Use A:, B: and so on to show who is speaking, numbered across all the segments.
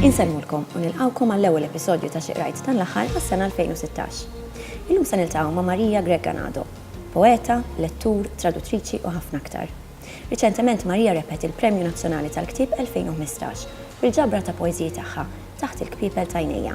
A: Insellmulkom u nilqgħukom għall-ewwel episodju ta' Xi Qrajt dan l-aħħar għas-sena 2016. Illum se niltaqgħu ma' Maria Grech Ganado, poeta, lettur, traduttriċi u ħafna aktar. Riċentement Maria rebħet il-Premju Nazzjonali tal-Ktieb 2015 bil-ġabra ta' poeżiji tagħha Taħt il-Kpiepel t'Għajnejja.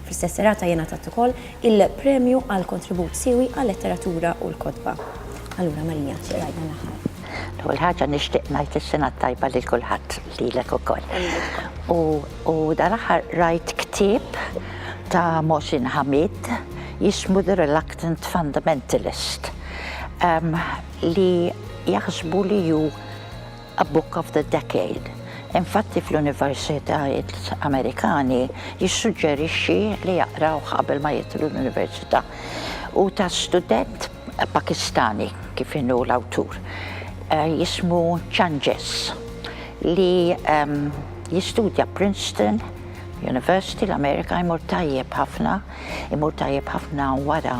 A: Fl-istess serata jingħatat ukoll il-premju għal kontribut siewi għal-letteratura u l-kotba. Allura Maria, xi qrajt dan l-aħħar? L-ewwel ħaġa
B: nixtieq ngħid is-Sena t-Tajba lil kulħadd, lilek ukoll. U dan l-aħħar qrajt ktieb ta' Mohsin Hamid jismu The Reluctant Fundamentalist. li jaħsbu li hu a book of the decade. Infatti fl-universitajiet Amerikani jissuġġerixxi li jaqrawh qabel ma jidħlu l-università. Hu ta' student Pakistani kif inhu l-awtur eh, jismu Changes li ehm, jistudja Princeton University l-Amerika jmur tajjeb ħafna Imur tajjeb ħafna wara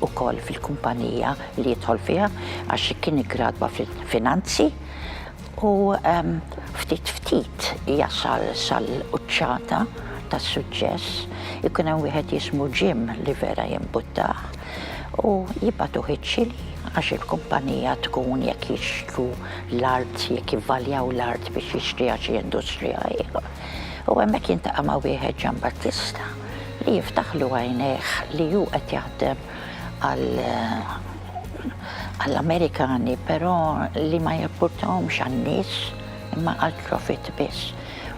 B: wkoll fil-kumpanija li jidħol fiha għax kien iggradwa fil-finanzi u ftit ftit jasal sal-quċċata tas-suċċess. Ikun hemm wieħed jismu Jim li vera jimbuttah u jibgħatuh iċ-Ċili għax il-kumpanija tkun jekk jixtru l-art, jekk jivvaljaw l-art biex jixtriha xi industrija ieħor. U hemmhekk jiltaqa' ma' wieħed Ġambattista. li jiftaħlu għajnejh li hu qed jaħdem għall-Amerikani però li ma jimpurtahomx għan-nies imma għall-profitt biss.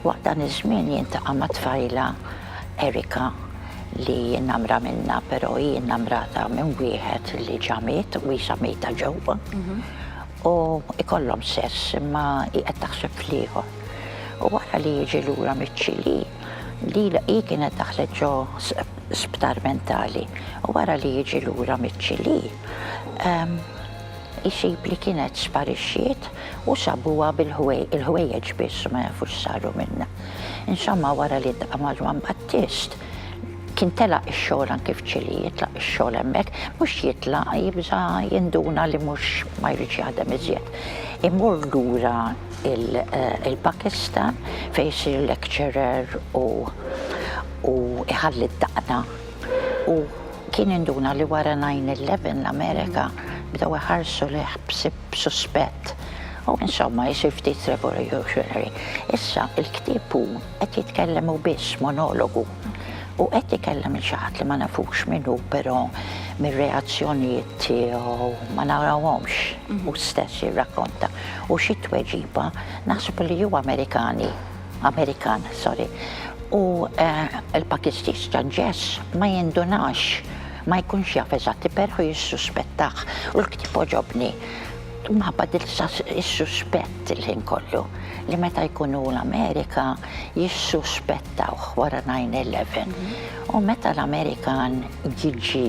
B: Waqt dan iż-żmien jiltaqa' ma' tfajla Erika li hi innamra minnha però hi innamrata minn wieħed li ġa miet u qisha mejta ġewwa u jkollhom sess imma hi qed taħseb fl-ieħor. U wara li jiġi lura miċ-Ċilì Lila hi kienet daħlet ġo sptar mentali u wara li jiġi lura miċ-Ċilì, isib li kienet sparixxiet u sabuha bil-ħwejjeġ biss u ma jafu x'saru minnha. Insomma wara li ltqa' ma' Ġwann Battist, kien telaq ix-xogħol anki f'Ċilì, jitlaq ix-xogħol hemmhekk, mhux jitlaq, jibża' jinduna li mhux ma jridx jaħdem iżjed. Imur lura. il-Pakistan fejn isir lecturer u u iħalli d-daqna. U kien induna li wara 9-11 l-Amerika bdew iħarsu lejh b'suspett. U insomma, isir ftit revolutionary. Issa, il-ktieb hu Qed jitkellem hu biss monologu u qed ikellem lil xi ħadd li ma nafux min hu però mir-reazzjonijiet tiegħu ma narawhomx hu stess jirrakkonta u xi tweġiba naħseb li hu Amerikani, Amerikan, sorry, u l-Pakistis ta' Jess ma jindunax, ma jkunx jaf eżatt, però jissuspettah u l-ktieb għoġobni. Imħabba tilxax is-suspett il-ħin kollu li meta jkun hu l-Amerika jissuspettawh wara 9/11 u meta l-Amerikan jiġi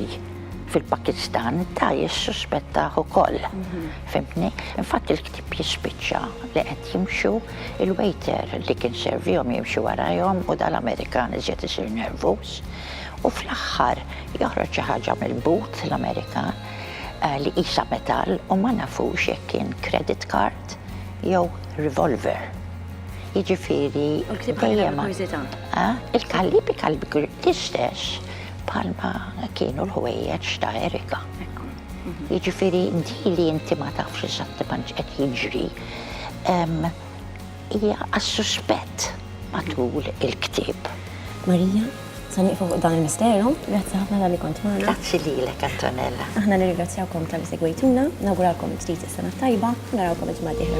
B: fil-Pakistan da jissuspettah ukoll. Fhimtni? Infatti l-ktieb jispiċċa li qed jimxu il-waiter li kien servihom jimxi warajhom u da l-Amerikan iżjed isir nervuż u fl-aħħar joħroġ xi ħaġa mill-but l-Amerikan. li qisha metall u ma nafux jekk kien credit card jew revolver. Jiġifieri dejjem il-kalibi kalibi l-istess bħalma kienu l-ħwejjeġ ta' Erika. Jiġifieri di li inti ma tafx eżattament x'qed jiġri Hija għas-suspett matul il-ktieb. Marija,
A: sa nieqfu fuq dan il-misteru, grazzi ħafna talli kont magħna. Grazzi lilek
B: Antonella. Aħna nirringrazzjawkom
A: talli segwejtuna, nawguralkom bdit is-sena t-tajba u narawkom il-ġimgħa d-dieħla.